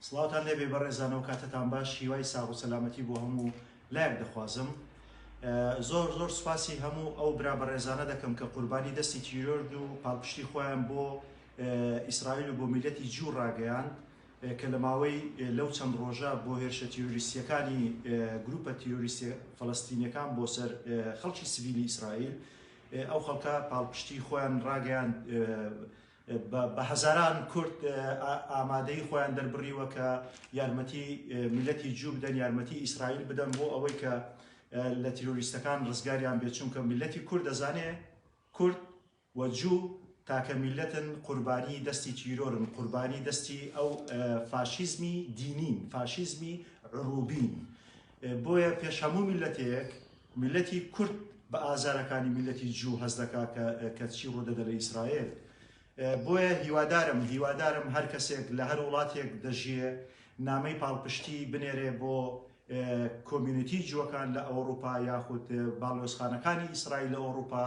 سڵاوتان لێبێ بەڕێزانەوە کاتتان باش هیوای ساغ و سەلامەتی بۆ هەموو لایەک دەخوازم زۆر زۆر سوپاسی هەموو ئەو برا بەڕێزانە دەکەم کە قوربانی دەستی تیرۆرد و پاڵپشتی خۆیان بۆ ئیسرائیل و بۆ میلەتی جوو ڕاگەیان کە لە ماوەی لەو چەند ڕۆژە بۆ هێرشە تیرۆریستیەکانی گروپە تیرۆریستی فلستینەکان بۆ سەر خەڵکی سڤیلی ئیسرائیل ئەو خەڵکە پاڵپشتی خۆیان ڕاگەیاند، بە هەزاران کورد ئامادەیی خۆیان دەربڕیوە کە یارمەتی میللەتی جوو بدەن، یارمەتی ئیسرائیل بدەن بۆ ئەوەی کە لە تیرۆریستەکان ڕزگاریان بێت، چونکە میللەتی کورد دەزانێت کورد و جوو تاکە میللەتن قوربانی دەستی تیرۆرن، قوربانی دەستی ئەو فاشیزمی دینین، فاشیزمی عرووبین، بۆیە پێش هەموو میللەتێک میللەتی کورد بە ئازارەکانی میللەتی جوو هەست دەکا کە کە چی ڕوو دەدە لە ئیسرائێل بۆیە هیوادارم هیوادارم هەر کەسێک لە هەر وڵاتێک دەژیێ نامەی پاڵپشتی بنێرێ بۆ کۆمیونیتی جووەکان لە ئەوروپا یاخود باڵۆزخانەکانی ئیسرائیل لە ئەوروپا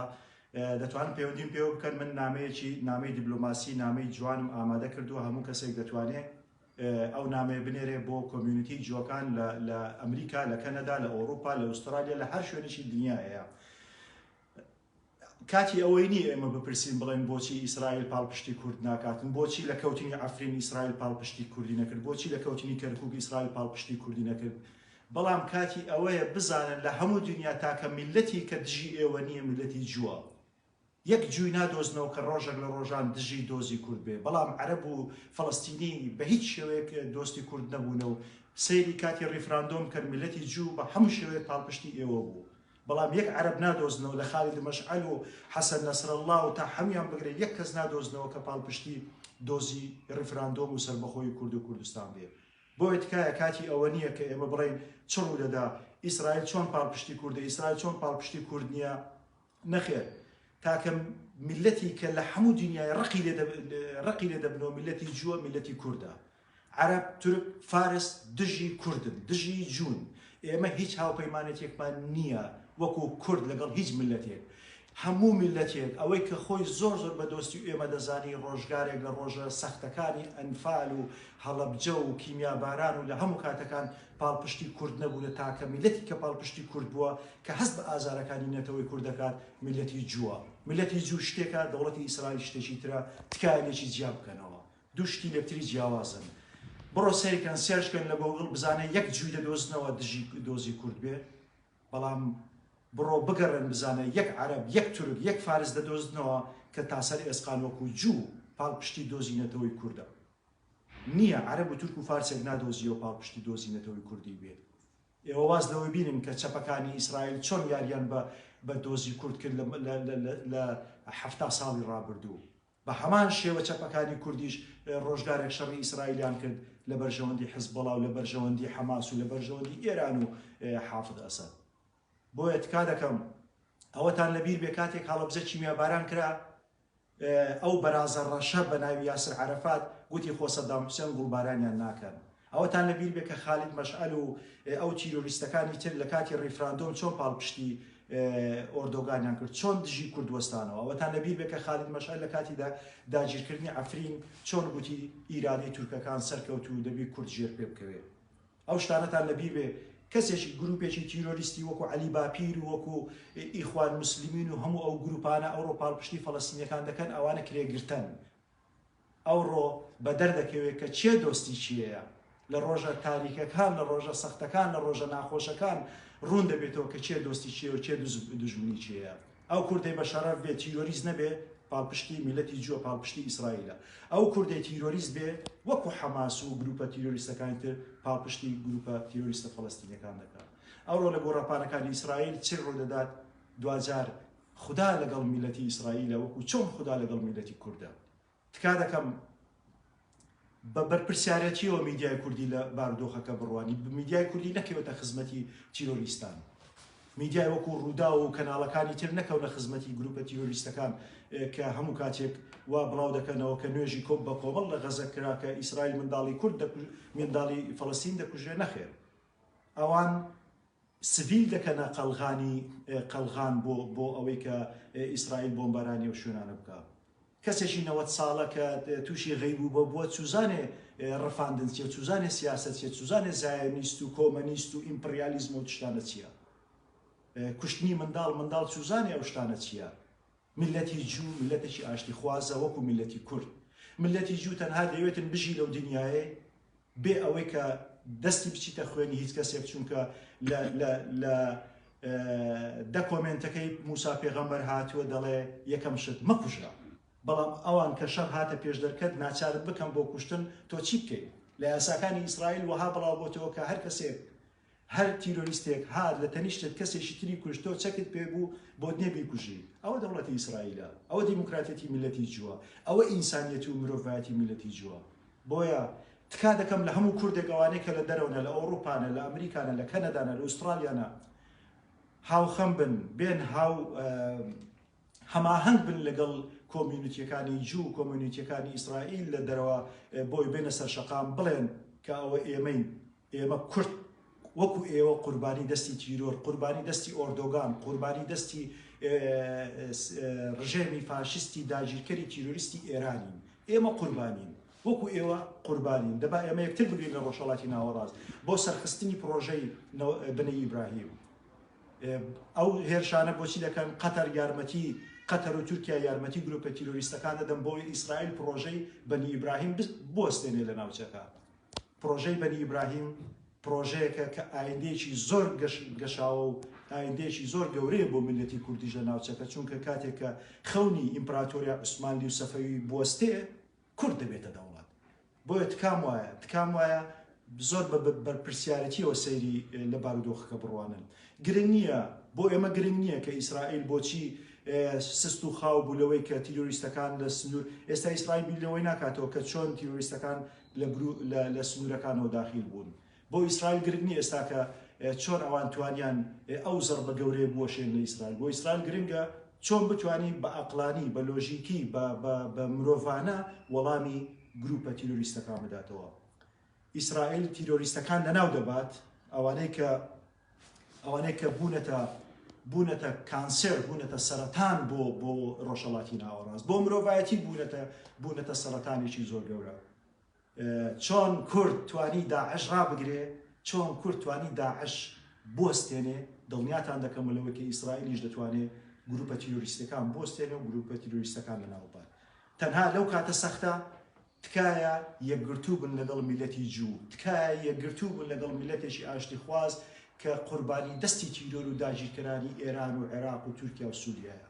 دەتوان پەیوەندیم پێوە بکەن من نامەیەکی نامەی دیبلۆماسی نامەی جوانم ئامادە کردووە هەموو کەسێک دەتوانێت ئەو نامەیە بنێرێ بۆ کۆمیونیتی جووەکان لە لە ئەمریکا لە کەنەدا لە ئەوروپا لە ئوسترالیا لە هەر شوێنێکی دنیا هەیە کاتی ئەوەی نیە ئێمە بپرسین بڵێن بۆچی ئیسرائیل پاڵپشتی کورد ناکاتن بۆچی لە کەوتنی ئەفرین ئیسرائیل پاڵپشتی کوردی نەکرد بۆچی لە کەوتنی کەرکوک ئیسرائیل پاڵپشتی کوردی نەکرد بەڵام کاتی ئەوەیە بزانن لە هەموو دنیا تاکە میلەتی کە دژی ئێوە نییە میلەتی جووە یەک جوی نادۆزنەوە کە ڕۆژەک لە ڕۆژان دژی دۆزی کورد بێ بەڵام عەرەب و فەڵەستینی بە هیچ شێوەیەک دۆستی کورد نەبوونە و سەیری کاتی ڕیفراندۆم کەن میلەتی جوو بە هەموو شێوەیەک پاڵپشتی ئێوە بوو بەڵام یەک عەرەب نادۆزنەوە لە خالید مەشعەل و حەسەن نەسرەڵا و تا حەمویان بگرە یەک کەس نادۆزنەوە کە پاڵپشتی دۆزی ڕیفراندۆم و سەربەخۆی کورد و کوردستان بێ بۆیە تکایە کاتی ئەوە نیە کە ئێمە بڵێین چ ڕوو دەدا ئیسرائیل چۆن پاڵپشتی کوردە ئیسرائیل چۆن پاڵپشتی کورد نیە نەخێر تاکە میللەتی کە لە حەموو دنیای ڕقی لێ ڕقی لێ دەبنەوە میللەتی جووە میللەتی کوردە عەرەب تورک فارس دژی کوردن دژی جوون ئێمە هیچ هاوپەیمانێتێکمان نییە وەکو کورد لەگەڵ هیچ میللەتێک هەموو میللەتێک ئەوەی کە خۆی زۆر زۆر بە دۆستی و ئێمە دەزانی ڕۆژگارێک لە ڕۆژە سەختەکانی ئەنفال و هەڵەبجە و کیمیاباران و لە هەموو کاتەکان پاڵپشتی کورد نەبوونە تاکە میلەتی کە پاڵپشتی کورد بووە کە هەست بە ئازارەکانی نەتەوەی کورد دەکات میلەتی جووە میلەتی جوو شتێکە دەوڵەتی ئیسرائیل شتێکی ترە تکایە لێکی جیا بکەنەوە دوو شتی لەکتری جیاوازن بڕۆ سەیرکەن سێرچکەن لە گۆگڵ بزانە یەک جووی دەدۆزنەوە دژی دۆزی کورد بێ بەڵام بڕۆ بگەڕێن بزانە یەک عەرب یەک تورک یەک فارس دەدۆزنەوە کە تاسەر ئێسقان وەکو جوو پاڵپشتی دۆزی نەتەوەی کوردە نیە عەرەب و تورک و فارسێک نادۆزیەوە پاڵپشتی دۆزی نەتەوەی کوردی بێت ئێوە واز لەوەی بینن کە چەپەکانی ئیسرائیل چۆن یاریان بە بە دۆزی کورد کرد لە حەفتا ساڵی ڕابردوو بە هەمان شێوە چەپەکانی کوردیش ڕۆژگارێک شەڕی ئیسرائیلیان کرد لە بەرژەوەندی حزبڵاو لە بەرژەوەندی حەماس و لە بەرژەوەندی ئێران و حافظ ئەسەد بۆیە تکا دەکەم ئەوەتان لەبیر بێ کاتێک هەڵەبزە کیمیاباران کرا ئەو بەرازە ڕەشە بە ناوی یاسر عەرەفات گوتی خۆ سەدام حوسێن گوڵبارانیان ناکەن. ئەوەتان لە بیر بێ کە خالید مەشعەل و ئەو تیرۆریستەکانی تر لە کاتی ڕیفراندۆم چۆن پاڵپشتی ئۆردۆگانیان کرد چۆن دژی کورد وەستانەوە. ئەوەتان لە بیر بێ کە خالید مەشعەل لە کاتی دا داگیرکردنی عەفرین چۆن گوتی ئیرادەی تورکەکان سەرکەوتوو دەبی کورد ژێر پێ بکەوێ. ئەو شتانەتان لە بیر بێ کەسێکی گروپێکی تیرۆریستی وەکو عەلی باپیر و وەکو ئیخوان موسلمین و هەموو ئەو گروپانە ئەوڕۆ پاڵپشتی فەڵەستینیەکان دەکەن ئەوانە کرێگرتەن ئەوڕۆ بەدەر دەکەوێت کە چێ دۆستی چیەیە لە ڕۆژە تاریکەکان لە ڕۆژە سەختەکان لە ڕۆژە ناخۆشەکان ڕوون دەبێتەوە کە چێ دۆستی چیە و چێ دژمنی چیە ئەو کوردەی بە شەڕەف بێ تیرۆریست نەبێ پاڵپشتی میلەتی جووە پاڵپشتی ئیسرائیلە ئەو کوردەی تیرۆریست بێ وەکو حەماس و گروپە تیرۆریستەکانی تر پاڵپشتی گروپە تیرۆریستە فەڵەستینەکان دەکات ئەوڕۆ لە گۆڕەپانەکانی ئیسرائیل چی ڕوودەدات دواجار خودا لەگەڵ میلەتی ئیسرائیلە وەکو چۆن خودا لەگەڵ میلەتی کوردە تکا دەکەم بە بەرپرسیارەتیەوە میدیای کوردی لە بارودۆخەکە بڕوانی میدیای کوردی نەکەوێتە خزمەتی تیرۆریستان میدیای وەکو ڕووداو و کەناڵەکانی تر نەکەونە خزمەتی گروپە تیرۆریستەکان کە هەموو کاتێک وا بڵاو دەکەنەوە کە نوێژی کۆپ بە کۆمەڵ لە غەزە کرا کە ئیسرائیل منداڵی کورد منداڵی فەڵستین دەکوژێ نەخێر ئەوان سڤیل دەکەنە قەلغانی قەلغان بۆ بۆ ئەوەی کە ئیسرائیل بۆمبارانی و شوێنانە بکە کەسێکی نەوەد ساڵە کە تووشی غەی بوو بە بووە چوزانێ ڕفاندن چیە چوزانێ سیاسەت چیە چوزانێ زایۆنیست و کۆمەنیست و ئیمپڕیالیزم و تشتانە چیە کوشتنی منداڵ منداڵ چوزانێ ئەو شتانە چیە ملەتی جوو ملەتێکی ئاشتی خوازە وەکو ملەتی کورد ملەتی جوو تەنها دەیەوێتن بژی لەو دنیایەی بێ ئەوەی کە دەستی بچیتە خوێنی هیچ کەسێک چونکە لە دە کۆمنتەکەی موسا پێغەمبەر هاتووە دەڵێ یەکەم شت مەکوژە بەڵام ئەوان کە شەر هاتە پێش دەرکەت ناچارت بکەم بۆ کوشتن تۆ چی بکەیت لە یاساکانی ئیسرائیل وەها بڵاو بۆتەوە کە هەر کەسێک هەر تیرۆریستێک هات لە تەنیشتت کەسێکی تری کوشت تۆ چەکت پێ بوو بۆت نیە بیکوژی ئەوە دەوڵەتی ئیسرائیلە ئەوە دیموکراتیەتی میلەتی جووە ئەوە ئینسانیەتی و مرۆڤایەتی میلەتی جووە بۆیە تکا دەکەم لە هەموو کوردێک ئەوانەی کە لە دەرەوەنە لە ئەوڕوپانە لە ئەمریکانە لە کەنەدانە لە ئوستڕالیانە هاوخەم بن بێن هاو هەماهەنگ بن لەگەڵ کۆمیونیتییەکانی جوو و کۆمیونیتییەکانی ئیسرائیل لە دەرەوە بۆی بێنە سەر شەقام بڵێن کە ئەوە ئێمەین، ئێمە کورد وەکو ئێوە قوربانی دەستی تیرۆر، قوربانی دەستی ئۆردۆگان، قوربانی دەستی ڕژێمی فاشیستی داگیرکەری تیرۆریستی ئێرانین، ئێمە قوربانین وەکو ئێوە قوربانین، دەبا ئێمە یەکتر بگرین لە ڕۆژهەڵاتی ناوەڕاست بۆ سەرخستنی پڕۆژەی بنەی ئیبراهیم. ئەو هێرشانە بۆچی دەکەن؟ قەتەر یارمەتی قەتەر و تورکیا یارمەتی گروپە تیرۆریستەکان دەدەن بۆ ئەوەی ئیسرائیل پڕۆژەی بەنی ئیبراهیم بوەستێنێ لە ناوچەکە. پڕۆژەی بەنی ئیبراهیم پڕۆژەیەکە کە ئایندەیەکی زۆر گەشاوە و ئایندەیەکی زۆر گەورەیە بۆ میللەتی کوردیش لە ناوچەکە، چونکە کاتێک کە خەونی ئیمپراتۆریای عوسمانلی و سەفەوی بوەستێ، کورد دەبێتە دەوڵەت. بۆیە تکام وایە تکام وایە زۆر بە بەرپرسیارەتیەوە سەیری لە بارودۆخەکە بڕوانن گرنگ نییە بۆ ئێمە گرنگ نییە کە ئیسرائیل بۆچی سست و خاو بوو لەوەی کە تیرۆریستەکان لە سنوور ئێستا ئیسرائیل بیلەوەی ناکاتەوە کە چۆن تیرۆریستەکان لە سنوورەکانەوە داخیل بوون بۆ ئیسرائیل گرنگ نیە ئێستا کە چۆن ئەوان توانیان ئەو زەڕبە گەورەیە بوەشێن لە ئیسرائیل بۆ ئیسرائیل گرنگە چۆن بتوانی بە ئەقڵانی بە لۆژیکی بە مرۆڤانە وەڵامی گروپە تیرۆریستەکان بداتەوە ئیسرائیل تیرۆریستەکان لەناو دەبات ئەوانەی کە ئەوانەی کە بوونەتە بوونەتە کانسێر بوونەتە سەرەتان بۆ بۆ ڕۆژەڵاتی ناوەڕاست بۆ مرۆڤایەتی بوونەتە بوونەتە سەرەتانێکی زۆر گەورە چۆن کورد توانی داعش ڕابگرێ چۆن کورد توانی داعش بۆستێنێ دڵنیاتان دەکەم لەوەی کە ئیسرائیلیش دەتوانێت گروپە تیرۆریستەکان بۆستێنێ و گروپە تیرۆریستەکان لە ناوبات تەنها لەو کاتە سەختە تکایە یەکگرتوو بن لەگەڵ میلەتی جوو تکایە یەکگرتوو بن لەگەڵ میلەتێکی ئاشتی خواز کە قوربانی دەستی تیرۆر و داگیرکەرانی ئێران و عێراق و تورکیا و سووریایە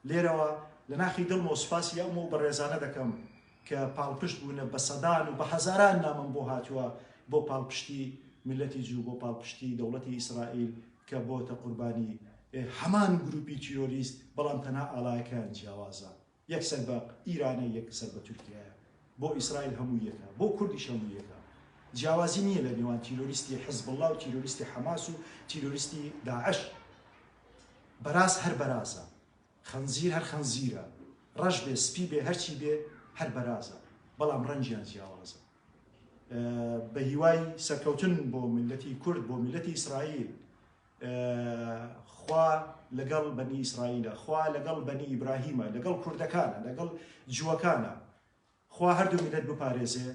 لێرەوە لە ناخی دڵمەوە سوپاسی ئەم و بەڕێزانە دەکەم کە پاڵپشت بوونە، بە سەدان و بە هەزاران نامەم بۆ هاتووە بۆ پاڵپشتی میللەتی جوو، بۆ پاڵپشتی دەوڵەتی ئیسرائیل کە بۆتە قوربانی هەمان گرووپی تیرۆریست، بەڵام تەنها ئاڵایەکەیان جیاوازە، یەک سەر بە ئیرانە، یەک سەر بە تورکیایە. بۆ ئیسرائیل هەموو یەکە، بۆ کوردیش هەموو یەکە. جیاوازی نییە لە نێوان تیرۆریستی حزبوڵڵا و تیرۆریستی حەماس و تیرۆریستی داعش. بەراز هەر بەرازە. خنزیر هەر خنزیرە. ڕەش بێ، سپی بێ، هەرچی بێ هەر بەرازە. بەڵام ڕەنگیان جیاوازە. بە هیوای سەرکەوتن بۆ میللەتی کورد، بۆ میللەتی ئیسرائیل. خوا لەگەڵ بەنی ئیسرائیلە، خوا لەگەڵ بەنی ئیبراهیمە، لەگەڵ کوردەکانە، لەگەڵ جووەکانە، خوا هەردوو میللەت بپارێزێ،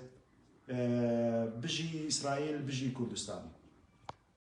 بژی ئیسرائیل، بژی کوردستان.